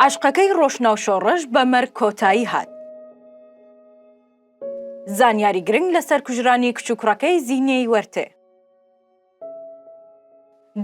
عەشقەکەی ڕۆشناو شۆڕش بە مەرگ کۆتایی هات. زانیاری گرنگ لەسەر کوژرانی کچ و کوڕەکەی زینێی وەرتێ.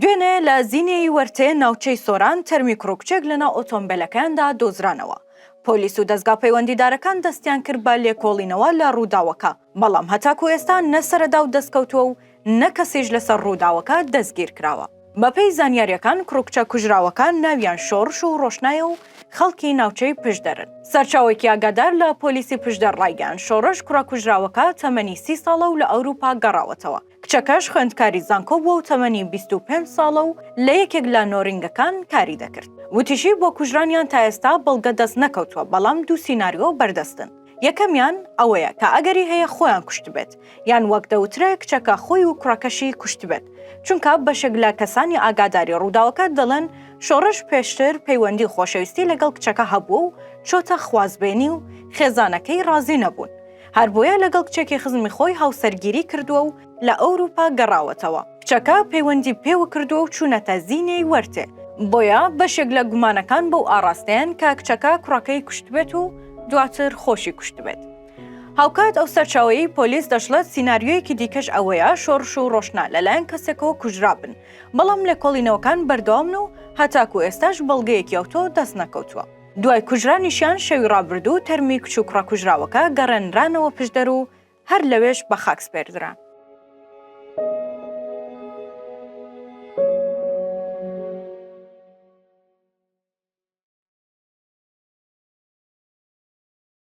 دوێنێ لە زینێی وەرتێ ناوچەی سۆران تەرمی کوڕ و کچێک لەناو ئۆتۆمبێلەکەیاندا دۆزرانەوە. پۆلیس و دەزگا پەیوەندیدارەکان دەستیان کرد بە لێکۆڵینەوە لە ڕووداوەکە. بەڵام هەتاکو ئێستا نە سەرەداو دەستکەوتووە و نە کەسیش لەسەر رووداوەکە دەستگیرکراوە. بەپێی زانیارییەکان کوڕوکچە کوژراوەکان ناویان شۆڕش و رۆشنایە و خەڵکی ناوچەی پشدەرن. سەرچاوەیەکی ئاگادار لە پۆلیسی پشدەر رایگەیاند، شۆڕش کوڕە کوژراوەکە تەمەنی سی ساڵە و لە ئەوروپا گەڕاوەتەوە، کچەکەش خوێندکاری زانکۆ بووە و تەمەنی بیست و پێنج ساڵە و لە یەکێک لە نۆرینگەکان کاری دەکرد. وتیشی، بۆ کوژرانیان تا ئێستا بەڵگە دەست نەکەوتووە، بەڵام دوو سیناریۆ بەردەستن، یەکەمیان ئەوەیە کە ئەگەری هەیە خۆیان کوشتبێت، یان وەک دەوترێ کچەکە خۆی و کوڕەکەشی کوشتبێت، چونکە بەشێک لە کەسانی ئاگاداری ڕووداوەکە دەڵێن، شۆڕش پێشتر پەیوەندی خۆشەویستی لەگەڵ کچەکە هەبووە و چۆتە خوازبێنی و خێزانەکەی ڕازی نەبوون. هەربۆیە لەگەڵ کچێکی خزمی خۆی هاوسەرگیری کردووە و لە ئەوروپا گەڕاوەتەوە، کچەکە پەیوەندی پێوە کردووە و چوونەتە زینێی وەرتێ، بۆیە بەشێک لە گومانەکان بەو ئاڕاستەیەن کە کچەکە کوڕەکەی کوشتبێت و دواتر خۆشی کوشتبێت. هاوکات ئەو سەرچاوەیەی پۆلیس دەشڵێت سیناریۆیەکی دیکەش ئەوەیە شۆڕش و ڕۆشنا لەلایەن کەسێکەوە کوژرابن، بەڵام لێکۆڵینەوەکان بەردەوامن و هەتاکوو ئێستاش بەڵگەیەکی ئەوتۆ دەستنەکەوتووە. دوای کوژرانیشیان شەوی ڕابردوو تەرمی کچ و کوڕە کوژراوەکە گەڕێنرانەوە پشدەر و هەر لەوێش بە خاک سپێردران.